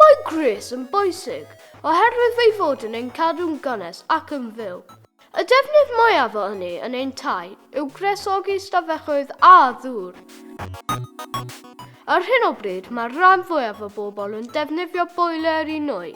Mae gwres yn bwysig oherwydd fe'i fod yn ein cadw'n gynnes ac yn fyw. Y defnydd mwyaf o ynni yn ein tai yw gwresogi stafelloedd a ddŵr. Ar hyn o bryd mae'r rhan fwyaf o bobl yn defnyddio boeler i nwy.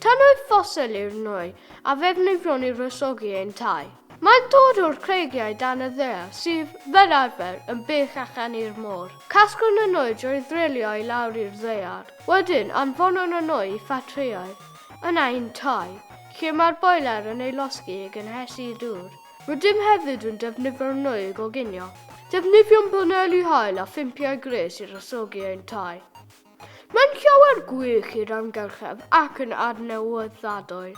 Tannau ffosil yw'r nwy a ddefnyddiwn i wresogi ein tai. Mae'n dod o'r creigiau dan y ddaear sydd, fel arfer, yn bell allan i'r môr. Casglwn y nwy drwy ddrilio i lawr i'r ddaear. Wedyn, anfonwn y nwy i ffatrïau yn ein tai, lle mae'r boeler yn ei losgi i gynhesu dŵr. Rydym hefyd yn defnyddio'r nwy i goginio. Defnyddiwn baneli haul a phympiau gwres i wresogi ein tai. Mae'n llawer gwych i'r amgylchedd ac yn adnewyddadwy.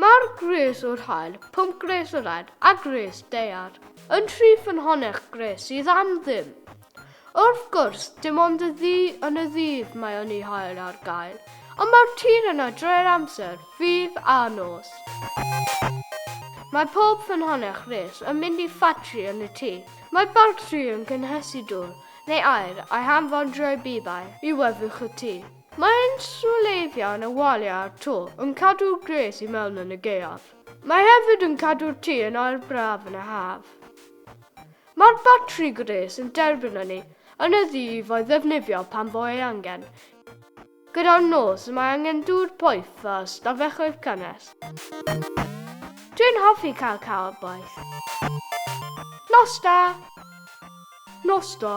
Mae'r gwres o'r haul, pump gwres o'r aer a gwres daear, yn rhy ffynhonnell gwres sydd am ddim. Wrth gwrs, dim ond y ddu yn y ddydd mae ynni haul ar gael, ond mae'r tir yna drwy'r amser, ddydd a nos. Mae pob ffynhonnell gwres yn mynd i ffatri yn y tŷ. Mae batri yn cynhesu dwr, Neu aur, a'i hanfondrio'i bibau i wefwch y tŷ. Mae inswleiddiau'n y waliau a'r to yn cadw'r gwres i mewn yn y gaeaf. Mae hefyd yn cadw'r tŷ yn aer braf yn y haf. Mae'r batri gwres yn derbyn ynni yn y ddu i fo'i ddefnyddio pan fo ei angen. Gyda'r nos mae angen dŵr poeth a stafelloedd cynnes. Dwi'n hoffi cael cawod boeth. Nos da! Nos da!